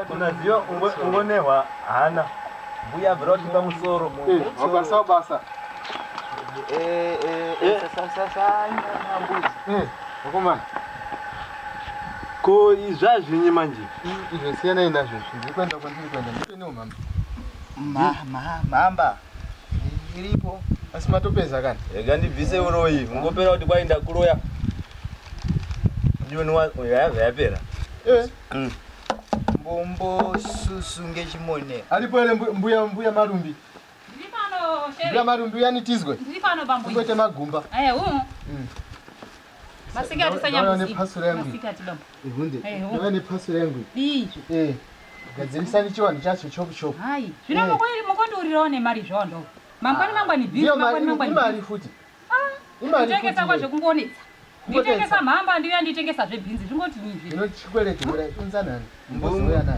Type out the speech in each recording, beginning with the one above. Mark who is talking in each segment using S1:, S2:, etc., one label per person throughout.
S1: unaziva ungonehwa hana mbuya abvira kuti pamusoro wabasa basa vakomana ko izvazvinyi manje izvo siyanai nazvo zviri kuenda kwandiri kuenda nditonewo mhamba mhamba iripo asi matopedza kana rega ndibvise uroyi ungopera kuti kwai ndakuroya yaiva yapera eh. mm. mbombo susu ngechimone aripo ere mbuya mbuya marumbi mbuya marumbi uyanitizwe ngoite magumba eh, mm. Masikati sanyama ne pastor yangu. Masikati baba. Hunde. Ndava ne pastor yangu. Ii. Eh. Gadzirisa ni chiwani chacho chop chop. Hai. Zvino moko iri moko ndi urirawo ne mari zvondo. Mangwani mangwani bhi. Iyo mari mangwani. Mari futi. Ah. Imari. Nditengesa kwa zvekungonetsa. Nditengesa mhamba ndiyo yanditengesa zve bhinzi. Zvingoti nyi zve. Ndinochikweleta mura kunzanani.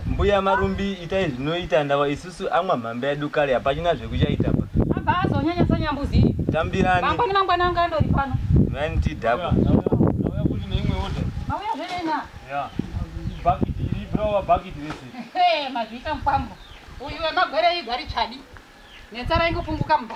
S1: Mbuya marumbi itai zvinoita ndawa isusu amwa mhambe yedu kare hapachina zvekuchaita pa. Abva azonyanya sanyambuzi. Tambirani. Mangwani mangwani anga andori pano. Mani tidhakwa. Ndauya kuti neimwe order. Mauya zvenena. Yeah. Bucket iri browa bucket rese. Hey mazviita mupambo. Uyu wemagwere igwari chadi. Netsara ingopunguka mba.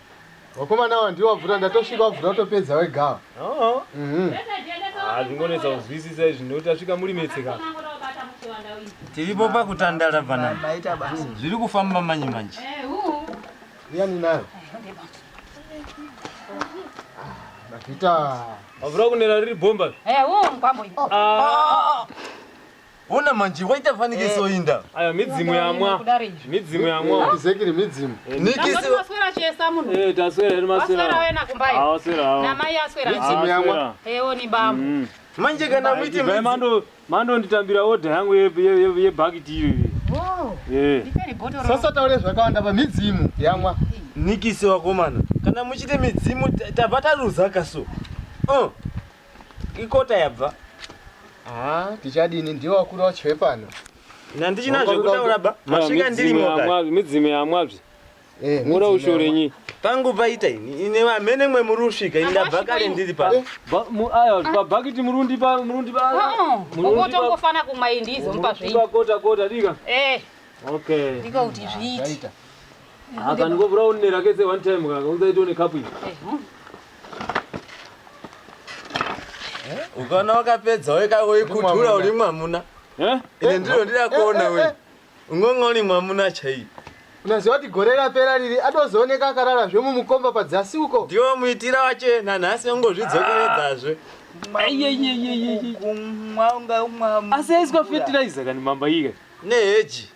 S1: Wakomana awa ndiwo wabvura ndatosvika wabvura utopedza wegawa. Oh. Mhm. Ah, zvingonetsa kuzwisisa izvi nekuti asvika muri metse ka. Tiripo pakutandara bana. Maita basa. Zviri kufamba manje manje. Uyani nayo. Mavhita. Wabvura kunera riri bomba. Eh, huu mkwambo. Ah. Ona manje waita fanikiso eh. inda. Ayo midzimu yamwa. Midzimu yamwa. Exactly midzimu. Eh, Nikisi. Maswera chesa munhu. Eh taswera iri maswera. Maswera wena kumbai. Ah waswera. Ah. Na mai aswera. Midzimu yamwa. Eh oni bambo. Mm. Manje kana muiti midzimu. Mando mando nditambira order yangu ye ye ye bucket iyo. Oh. Eh. Sasa taure zvakawanda pa midzimu yamwa. Nikisi wakomana. Kana muchite midzimu tabva taruza kaso. Oh. ikota yabva Ah, tichadini ndiwo wakuru wacho wepano. nandichina zvekutaura ba masvika ndirimo kare midzimu yamwabzi Eh, mura midzimu ushore yamwa- nyi pangu paita ini ine vamene mwe muri usvika ini ndabva kare ndiri pa pabhakiti murundi pa murundi pa ukotongofana kumwa iyi ndizomupa zvei kota kota dika Eh, okay ndiko kuti zviiti Zvaita. Aka ndiko brown ne rakese one time kaka unza ito ne cup iyi. Ukana wakapedza weka wekutura uri mwamuna. Eh? Ine ndiro ndira kuona we. Ungonga uri mwamuna chai. Unaziva kuti gore rapera riri atozooneka akarara zve mumukomba padzasi uko. Ndiwo muitira wache nanhasi ungozvidzokeredzazve. Aiyeyeyeyeyekumwa unga umwa. Asi aiswa fertilizer kani mamba ika. Neheji.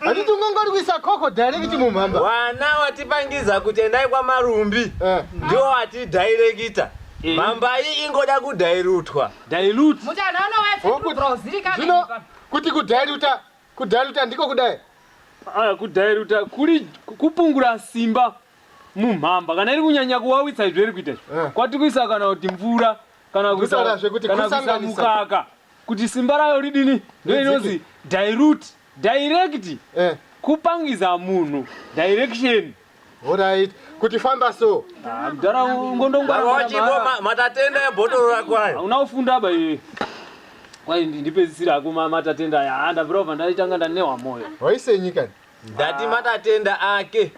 S1: Handiti ungangorwisa koko direct mumhamba. Wana watipangiza kuti endai kwamarumbi Eh. ndiwo watidhairekita. Mhamba iyi ingoda kudhairutwa. Dilute. Mutana Wokuti- anowaesekubro zirikana Zvino kuti kudhairuta kudhairuta ndiko kudai. Ah, kudhairuta kuri kupungura simba mumhamba kana iri kunyanya kuwawitsa izvo iri kuita izvo. Eh. kwati kuisa kana kuti mvura kana kuisa Ndotaurazve kuti kana kuisa kusanganisa. mukaka kuti simba rayo ridini ndoinonzi dilute Direct Eh, kupangidza munhu direction. alright. Kuti famba so. Ah, Mdhara ungondongwara Baba mwana wachipo mhara. ma- matatenda ebhotoro rako ayo. Hauna kufunda ba iwe. Kwai ndi- ndipedzisira hako ma- matatenda aya. Ah, ndabvira kubva ndaitanga ndanewa moyo. Waisenyi kani? Ndati matatenda ake.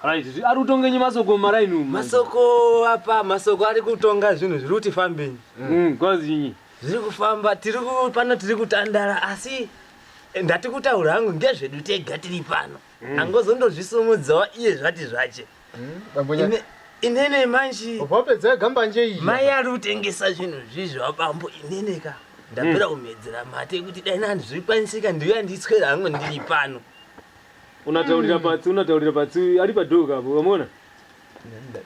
S1: Right, zvi- ari kutongenyi masoko maraini umu. Masoko apa masoko ari kutonga zvinhu zviri kuti fambenyi. Mm, kwazinyi. zviri kufamba tiri pano tiri kutandara asi eh, ndati kutaura hangu ngezvedu tega tiri pano mm. angozondozvisumudzawo iye zvati zvache mm, inene manji wapedza gambanje iyi mai ari kutengesa zvinhu zvizvo abambo inene ka ndapera mm. kumedzera mate kuti dai nani zvirikwanisika ndiyo yanditswera hangu ndiri pano unataurira mm. patsi unataurira patsi ari padhoga apo vamona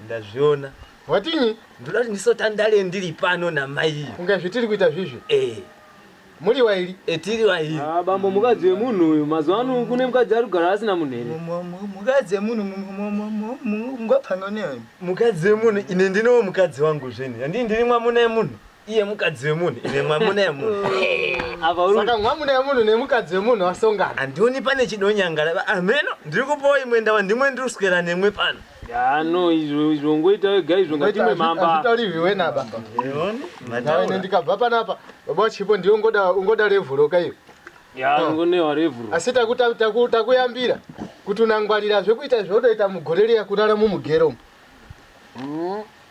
S1: ndazviona watinyi ndoda kuti ndisotandale ndiri pano namai kunge zvitiri kuita zvizvi eh muri wairi etiri wairi ah, bambo mukadzi wemunhu uyu mazuva ano kune mukadzi ari kugara asina munhu here mukadzi wemunhu mungapanga neani mukadzi wemunhu ine ndinowo mukadzi wangu zveni handii ndiri mwamuna yemunhu iye mukadzi wemunhu ine mwamuna yemunhu saka mwamuna yemunhu nemukadzi wemunhu vasongana handioni pane chidonyangara ba- ameno ndiri kupawo imwe ndava ndimwe ndiri kuswera nemwe pano ya no izvo izvo ngoita wega izvo ngatimwe mamba hazvitauriwi wenaba Eoni, naine mataura. ndikabva panapa baba wachipo ndiyo ungoda ungoda revhuroka iyo ya ngonewa revhuro asi taku- taku- taku- takuyambira kuti unangwarira zvekuita zvaunoita mugore riya kurara mumugero umu.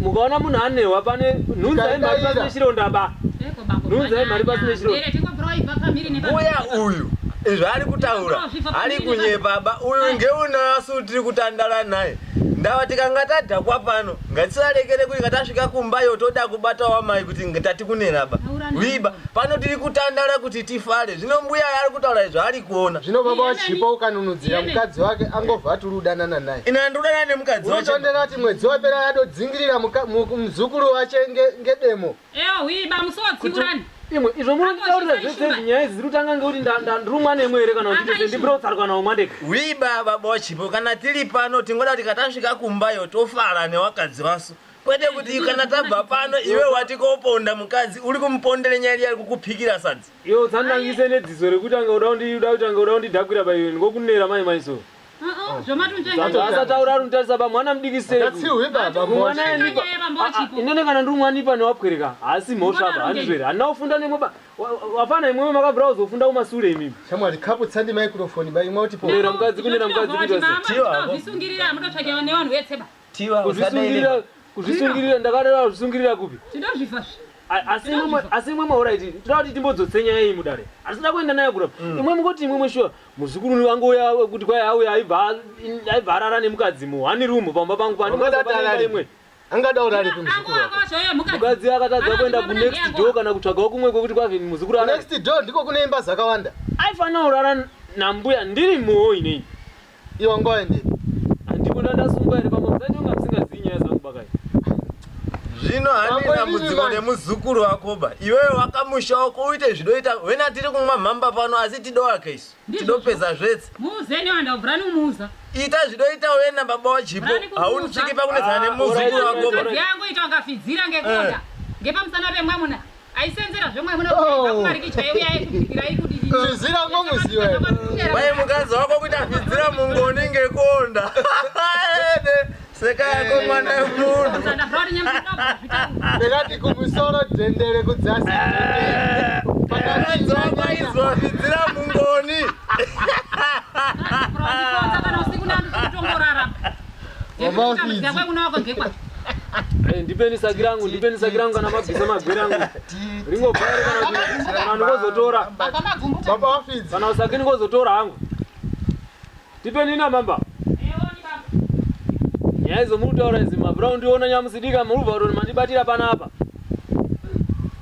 S1: mukaona munhu anehwa pane nhunza yemari pasine chironda ba nhunza yemari pasine chironda uya uyu izvo ari kutaura ari kunyepa ba uyu ngeunasu tiri kutandara naye ndava tikanga tadhakwa pano ngatisarekere kuti ngatasvika kumba yo toda kubata wamai kuti tati kunera ba wiba pano tiri kutandara kuti tifare zvino mbuya yaari kutaura izvo ari kuona zvino baba wachipo ukanunudzira mukadzi wake angobva aturi udanana naye ina ndodana nemukadzi wacho unotondera kuti mwedzi wapera yatodzingirira muka- mu- muzukuru wache nge- ngedemo Ewa hwii ba musotsiurani. imwe izvo munonditaurira zvese izvi nyaya idzi dziri kutanga ngekuti nda- nda- ndirumwa nemwe here kana kuti ndese ndibira kutsarukwa nawo mandeka wiba baba wachipo kana tiri pano tingoda kuti katasvika kumbayo tofara newakadzi wasu kwete kuti kana tabva pano iwe wati koponda mukadzi uri kumupondera nyaya iya ari kukupikira sadzi Iwe utsandangise nedziso rekutanga uda kundi uda kutanga uda kundidhakwira by iwe ndingokunera mai mai so. Uh-uh, Zvamatundanga Asataura ari kutarisa ba mwana mudiki sei. That's you with that. Bambo. Mwana Mwana yanipa. yeye bambo Ah, ah, wachipo. Inene kana ndiri mwana ipa newapwereka haasi mhosva Mwana apa arongei. handizvere handina kufunda nemwe ba wa- wa- wafana imwewe makabvira kuzofunda kumasure imimi. Shamwari kapu tsandi microphone by imwe kuti po. Kunera mukadzi kunera mukadzi kuita sei. Tiwa, hapo. zvisungirira mutotsvakewa nevanhu vetseba Tiwa kuzvisungirira usadai. kuzvisungirira ndakareva kuzvisungirira kupi Tinozvifa zve. A- asi imwe asi imwe mauraiti tinoda kuti timbodzotse nyaya iyi mudare asi tinoda kuenda nayo kurapa imwe mungoti imwe mweshuwa muzukuru wangu uya wekuti kwai auya aibva aibva arara nemukadzi muhani room pamba pangu Wakadata pandinoapanenga arari. imwe angada urari Angu kumuzukuru wako wako zvoye mukadzi. mukadzi akatadza Ana kuenda mwana kunext ndiye door ako. kana kutsvagawo kumwe kwekuti kwave muzukuru arare next door ndiko kune imba dzakawanda aifanira kurara nambuya ndiri muhoyi nei Iwe ngoende. Handikuda ndasungwa here pamwe msati unga msingazivi nyaya dzangu bakai. Zvino handina mudziko nemuzukuru wako ba. Iwewe wakamusha wako uite zvidoita wena tiri kumwa mhamba pano asi tidowake isu. Tidopedza zvetse. Muuze ne wanda ubrani umuza. Ita zvidoita wena baba wachipo. Haunitsviki pakunetsana ah, nemuzukuru wako ba. Yangu ita wakafidzira ngekuda. Eh. Ngepamusana pemwamuna. aisenzera zvemwamuna kumariki chaiye uya aikubikirai kudii Tizira ngomuziwa. Wai mukadzi wako kuita fidzira mungoni ngekonda. Ede seka yako mwana wemunhu. Ndakati kumusoro dendere kudzasi. Mukadzi wako aizwa fidzira mungoni. Ndekutambudzira kwekuna wako ngekwa. Eh, ndipeni saki rangu ndipeni saki rangu kana mabvisa magwere angu ringobhaire kana kuti kana ndikozotora Baba magumbuta. Baba wafidzi. kana usaki ndikozotora hangu ndipeni ina mamba nyaya idzo muri kutaura idzi mabrown ndiona nyamusidika muri kubva kuti mandibatira panapa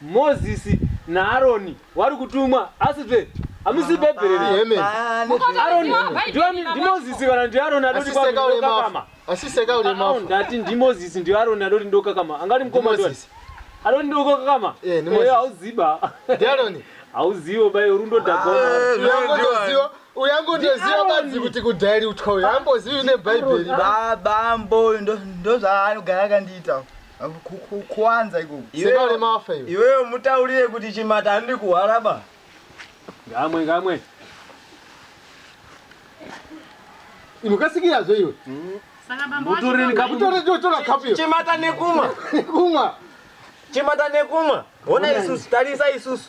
S1: Mozisi naAroni vari kutumwa asi zve hamusi bhebheri ri Amen. Aroni ndiani ndiMozisi kana ndiAroni adoti Asiseka kwamuri ule ndokakama mafu. Asiseka ule Ah, ah, mafu. ndati ndiMozisi ndiAroni adoti ndokakama angati mukoma ndiani Mozisi. adoti ndokakama Eh, ndiMozisi. Eh, hauziba Ndiaroni. hauziwo bayo rundo dhakona Uyangotoziwa, uyangotoziwa badzi kuti kudhairi utya uyu. Ambozivi nebhaibheri. Baba mboyo ndo ndo zvaanogara akandiita. kuwanza ikoko sekale mafa iwe iweyo mutaurire kuti chimata andiri kuhwara ba ngamwe ngamwe inokasikirazve iwe Saka bambo wacho Mutoreni baba- kapu- Mutoreni tora- tora kapu iyo. chimata nekumwa kumwa chimata nekumwa hona isusu tarisa isusu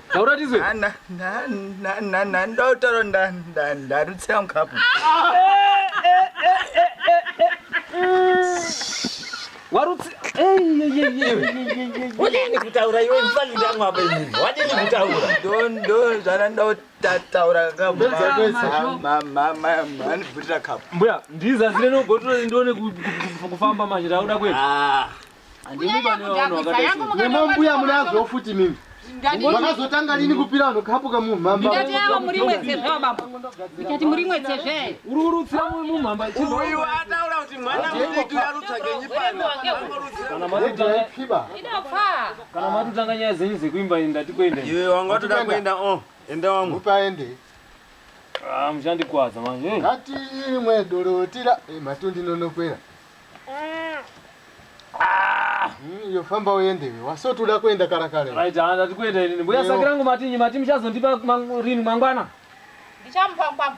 S1: taura tizwe ndotaura ndarutsira mukapu wadini kutaura iwe mfani ndangu apa ini wadini kutaura dondo zvana ndotataura kamuanibvutira kapu mbuya ndizazire nogotore ndione kufamba manje tauda kwei ah. nemambuya munazo futi mimi makazotanga lini kupira vanhu kapu kamumhambaaa muri mwedze zve baba ikati muri mwedze zve uri kurutsira mumhamba uyu ataura kuti mwana mudiki arutsagenyi panakana matotanga nyaya zenyu dzekuimba ndati kuenda iwe wanga watoda kuenda o oh, enda wangu upaende ah, muchandikwadza manje ngati imwe dorotira eh, matundinonokwera Mm, yofamba uendewe wasoti uda kuenda kara kare right ah, ndati kuenda inini mbuya saki rangu matinyi mati muchazondipa rini mangwana ndichamupa ngwama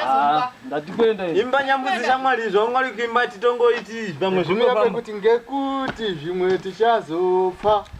S1: ah, ndati kuenda ini imba nyambudzi shamwari izvo mwari kuimba titongoiti pamwe zvimwe pamwe kuti ngekuti zvimwe tichazopfa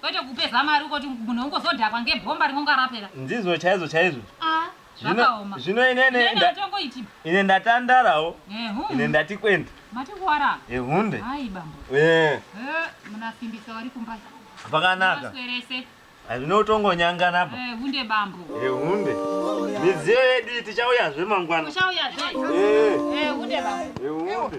S1: kwete kupeza mari ukoti munhu ongozodhakwa ngebhomba rinonga rapera ndizvo chaizvo chaizvo ah Zvino- zvakaoma zvino ine ne- Nene nda- atongoiti ine ndatandarawo ehu ine ndati kwende mati kuwara ehunde hayi bambo Eh, Eh, munasimbisa wari kumba pakanaka maswerese hazvine kutongonyangana apa Eh, hunde bambo ehunde midziyo yedu iyi tichauyazve mangwana uchauya zve Eh, Eh, hunde bambo ehunde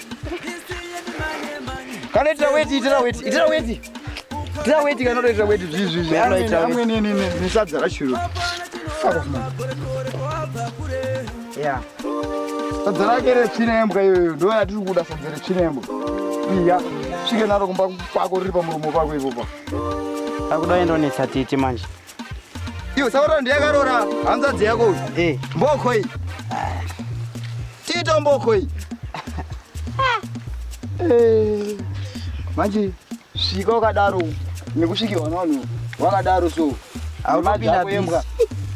S1: Kana itira weti, itira weti, itira weti. Itira weti kana itira weti zvizvi zvizvi. Kana itira weti. Amwe ne ne ne sadza rashuru. Fuck off man. Yeah. Sadza rake rechirembwa iyoyo ndo yatiri kuda sadza rechirembwa. Iya. Svike naro kumba kwako riri pamuromo pako ipopa. Akuda endonetsa titi manje. Iyo sauro ndiyakarora hanzvadzi yako uyu. Eh. Mboko iyi. Tito mboko iyi. Eh. Manje svika wakadaro nekusvikirwa navanhu wakadaro so. Haunopinda pembwa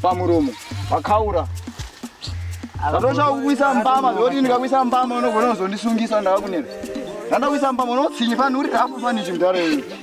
S1: pamuromo wakaura. Ndatoshaka kukuisa mbama zvoti ndikakuisa mbama unogona kuzondisungisa ndava kunena. Ndandakuisa mbama unotsinyi fanhu uri rafu fani chimdhara iwe.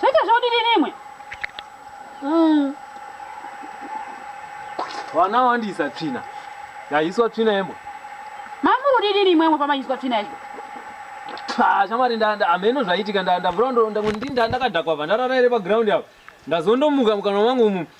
S1: Zvaita zvaudini nemwe? Mm. Vana wandisa tsvina. Yaiswa tsvina yembo. Mamuri udini nemwe mwe pamaiswa tsvina yembo? Tsa, shamari ndanda ameno zvaitika ndanda brondo ndakadakwa vandarara ere pa ground apo. Ndazondomuka mukana wangu umu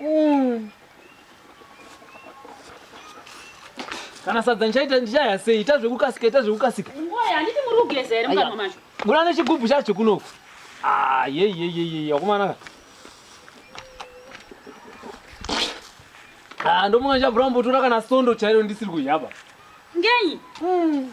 S1: Mm. Kana sadza ndichaita ndichaya sei? Ita zvekukasika, ita zvekukasika. Ngoya handiti muri kugeza here mukamwa macho? Bura nechigubhu chacho kunoku. Ah, ye ye ye ye ye akomana. Ah, ndomuka ndichabvura mbotora kana sondo chairo ndisiri kuyaba. Ngenyi? Mm.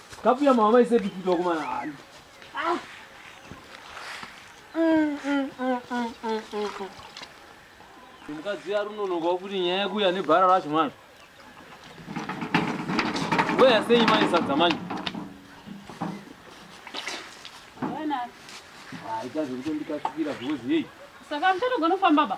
S1: Kapu ya mama ise pipi to kuma na ali. Ah. Mm mm mm mm mm. mm, mm. Mukadzi ari unonoka kuti nyaya yakuya nebhara racho manje. Weya sei mai sadza manje? Haita zvekutondikatsikira because yei. Saka muchatogona kufamba ba?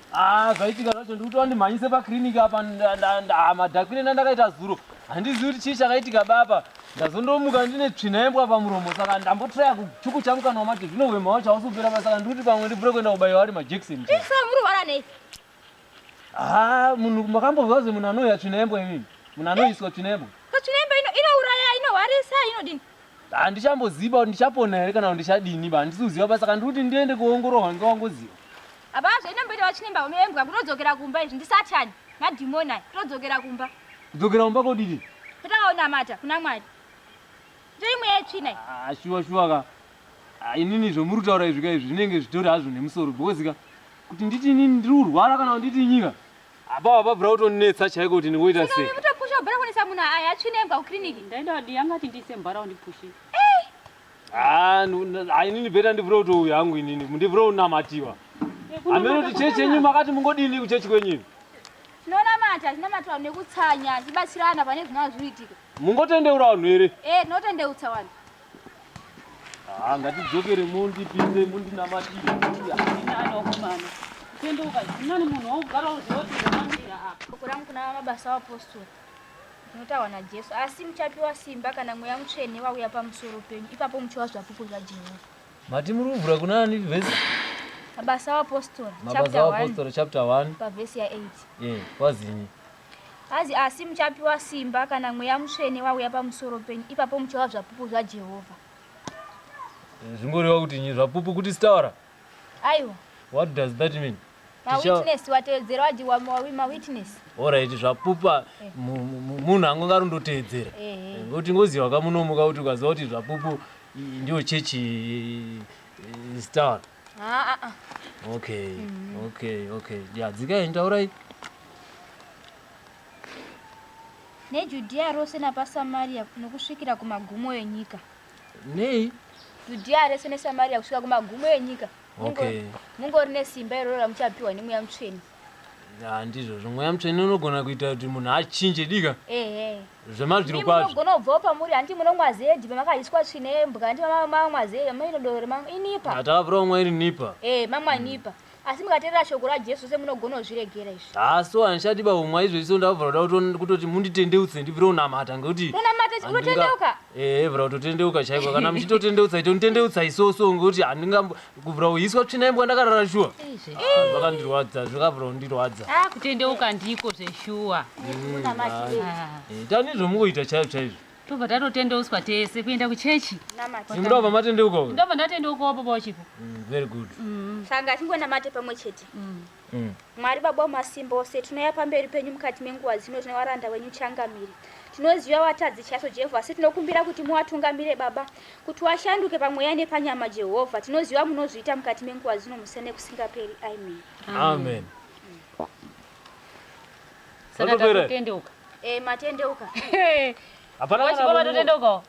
S1: Ah, zvaitika zvacho ndikuti wandimhanyise paclinic apa madhakwire ndandakaita zuro handizivi kuti chii chakaitika baba ndazondomuka ndine tsvina yembwa pamuromo saka ndambotraya kuchuku changu kana wamati zvino hwema wacho hausi kupera pa saka ndikuti pamwe ndibvure kuenda kubaiwa ari majekseni murwara nei ha munhu makambozwa ze munhu anoya tsvina yembwa imini munhu anoiswa tsvina yembwa tsvina yembwa inouraya inohwarisa inodini Handichamboziva kuti ndichapona here kana kuti ndichadini ba handisi kuziva ba saka ndiri kuti ndiende kuongororwa nge wangoziva. Apa zvaita mboita vachinemba uno embwa kutodzokera kumba izvi ndisatani madhimoni ayi kutodzokera kumba. Kudzokera kumba kodini? Kutanga kunamata kuna Mwari. Ndiyo imwe yetsvina iyi. Ah shuwa shuwa ka. Ah, inini zvomuri kutaura izvi ka izvi zvinenge zvitori hazvo nemusoro because ka kuti nditi inini ndiri kurwara kana kuti nditi nyika Apa apa bra utonetsa chaiko kuti ndingoita sei. Kuto push up bra kunetsa munhu aya atsvine embwa ku clinic. Ndaenda wadi yanga ati ndiise mbara undi push. Ah, inini beta ndi bro to yangu inini. Ndi bro unamatiwa. Eh, Ameno kuti chechi yenyu makati mungodini ku chechi kwenyu. Tinonamata, tinamata nekutsanya, tibatsirana pane zvinazviitika. Mungotendeura vanhu here? Eh, tinotendeutsa vanhu. Ah, ngatidzokere mundipinde mundinamatire. Anokumana. Tende ukazvinani munhu wogara uziva kuti ndamandira apa. Bhuku rangu kuna mabasa apostori rinotaurwa naJesu, asi muchapiwa simba kana mweya mutsvene wauya pamusoro penyu, ipapo muchiwa zvapupu zvaJehovha. Mati muri kuvhura kuna ani vhesi? Mabasa apostori Mabasa chapter 1 apostori chapter 1 pavhesi ya 8. eh kwazinyi? Hanzi, Asi muchapiwa simba kana Mweya Mutsvene wauya pamusoro penyu, ipapo muchava zvapupu zvaJehovha. Zvinoreva kuti nyi zvapupu kuti sitaura? Aiwa. What does that mean? Ma Ticha- witness watevedzera waji wa ma ma witness. Alright, zvapupa Eh. mu- mu- mu- munhu anganga arondoteedzera. Ehe. Eh, Ngokuti ngoziva kamunomuka kuti ukaziva kuti zvapupu i- ndiyo chechi eh, sitaura. haa okay okay okay ya dzikai ndaurai nejudhiya rose napasamariya nokusvikira kumagumo enyika nei judhiya rese nesamariya kusvika kumagumo enyika Mungo- Okay. mungori nesimba iroro ramuchapiwa nemweya mutsvene handizvozvo mweya mutsvene unogona kuita kuti munhu achinje dika zvemazviro kwazvounogona kubvawo pamuri handi munomwa zedi pamakaiswa tsvina yembwa handi mamwa zedi mainodoro inipa atakavura umwa iri nipa e mamwa nipa asi mukateerera shoko rajesu se munogona kuzviregera izvi haa so handishati baumwa izvo iso ndavavura kuda kutoti munditendeutse ndibvire unamata ngekuti unamata unotendeuka ehe bra kutotendeuka chaiko kana muchitotendeutsa itonitendeutsa isoso ngokuti handingambo kubra uhiswa tsvina imbwa ndakarara shuwa Ah, zvakandirwadza zvakabra kundirwadza Ah, kutendeuka ndiko zveshuwa Ah, Eh, tani zvomukuita chaizvo chaizvo tobva tatotendeuswa tese kuenda kuchechi imuda kubva matendeuka uyu ndobva ndatendeukawo baba wachipo Mm, very good Sanga achingonamate pamwe chete. Mm. Mwari Baba wamasimba ose, tinouya pamberi penyu mukati menguva dzino tine varanda wenyu changamire. Tinoziva vatadzi chaiso Jehovha, asi tinokumbira kuti muwatungamire Baba, kuti washanduke pamweya nepanyama Jehovha. Tinoziva munozviita mukati menguva dzino musene nekusingaperi. Amen. Amen. Saka Vatopera. tatotendeuka. Eh, matendeuka. Hapana kana Vachibaba vamwe- totendeukawo.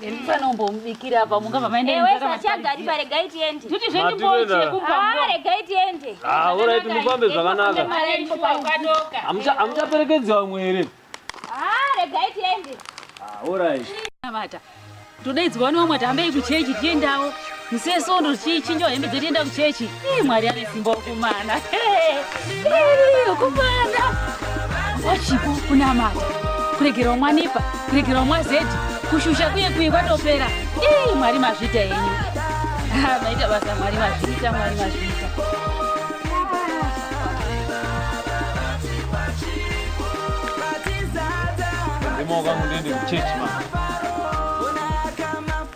S1: ndisanombomubikira apa mungava maendeewesachagaripare tiende tuti zvendimbochekupare gai tiende aorit mufambe zvakanaka hamuchaperekedzi vamwe here regai tiende orit vata todaidzwa vane vamwe tihambei kuchechi tiendawo Muse sondo chichinjo hembe dzedu enda kuchechi. Ii Mwari ane simba ukumana. Ukumana. Wachipo kunamata. Kuregerwa mwanipa, kuregerwa mwazeti, kushusha kuye kuye kwatopera. Ii Mwari mazvita henyu. Ah, maita basa Mwari mazvita, Mwari mazvita. Ndimo kwangu ndiende kuchechi mama.